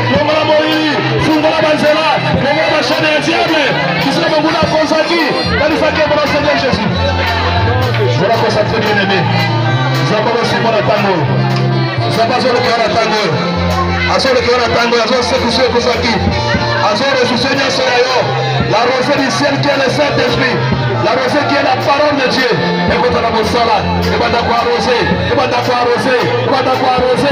longola moyi fungola banzela longola bashane ya diable kisika monguna akonzaki kanisaki mpona seigneur jésus zala konsantre bien aimé zamba bosima na ntango oyo zamba azolokela na ntango oyo azolekela na ntango oyo azosekisa ekozaki azoresuse nyonso ya yo la rose du ciel qui est le saint esprit la rose qui est la parole de dieu ekota na mosala ebanda koarose ebanda koarose ebanda koarose